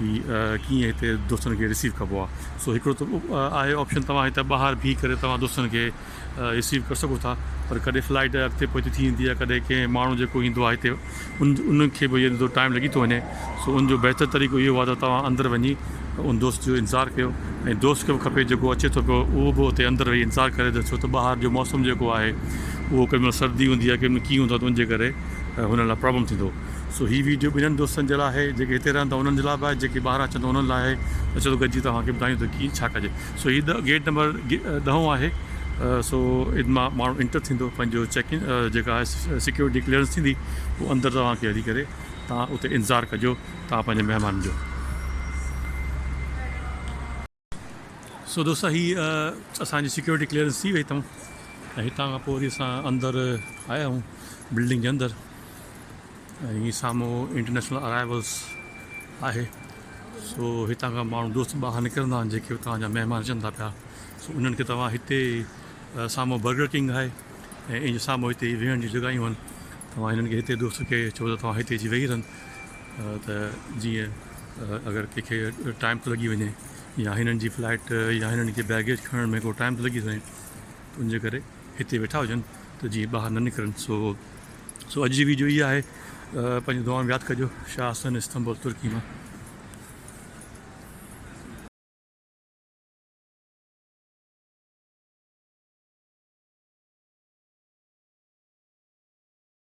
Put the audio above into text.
ھي ڪيئن ھتي دوستن کي رسيو ڪبو آ سو ھڪڙو ته آھي آپشن توھان ھتي ٻاھر بيھي ڪري توھان دوستن کي رسيو ڪري سگھو ٿا پر ڪڏھن فلائيٽ اڳتي پوئتي ٿي ويندي آ ڪڏھن ڪنھن ماڻھو جيڪو ايندو آ ھتي ان ان کي بھ ھتي ٽائيم لڳي ٿو وڃي سو ان جو بھتر طريقو اھو آ ته توھان اندر وڃي ان دوست جو انتظار ڪيو ۽ دوست کي بھ کپي جيڪو اچي ٿو پيو اھو بھ اتي اندر ويھي انتظار ڪري ته ڇو ته ٻاھر جو موسم جيڪو آھي اھو ڪڏھن مھل سردي ھوندي آ ڪڏھن مھل ڪيئن ھوندو آ ته ان جي ڪري ھنن لاء پرابلم ٿيندو سو هي ويڊيو ٻنهن دوستن جي لاء آهي جيڪي هتي رهن ٿا انهن جي لاء به آهي جيڪي ٻاهران اچن ٿا انهن لاء آهي ته چلو گڏجي توهان کي ٻڌايون ته ڪيئن ڇا ڪجي سو هي گيٽ نمبر ڏهون آهي سو ان مان ماڻهو انٽر ٿيندو پنهنجو چيڪ ان جيڪا آهي سيڪيورٽي ڪليئرنس ٿيندي پوء اندر توهان کي هلي ڪري تان اتي انتظار ڪجو تان پنهنجي مهمانن جو سو دوستو هي اسان جي سيڪيورٽي ڪليئرنس ٿي وئي اتان ۽ هتان کان پوء وري اسان اندر آيا آهيون بلڊنگ جي اندر ۽ هي سامهون انٽرنيشنل ارائيولس آهي سو هتان کان ماڻهو دوست ٻاهر نڪرندا آهن جيڪي اتان جا مهمان اچن ٿا پيا سو انهن کي توهان هتي سامهون برگر ڪنگ آهي ۽ ان جي سامهون هتي ويهڻ جون جڳهيون آهن توهان هنن کي هتي دوست کي چئو ته توهان هتي اچي ويهي رهن ته جيئن اگر ڪنهن کي ٽائيم ٿو لڳي وڃي يا هنن جي فلائيٽ يا هنن کي بيگيج کڻڻ ۾ ڪو ٽائيم ٿو لڳي وڃي ته ان جي ڪري هتي ويٺا هجن ته جيئن ٻاهر نه نڪرن سو سو اڄ جي ويڊيو هي آهي پنهنجي دعا ۾ ياد ڪجو شاهه حسن استنبول ترڪي مان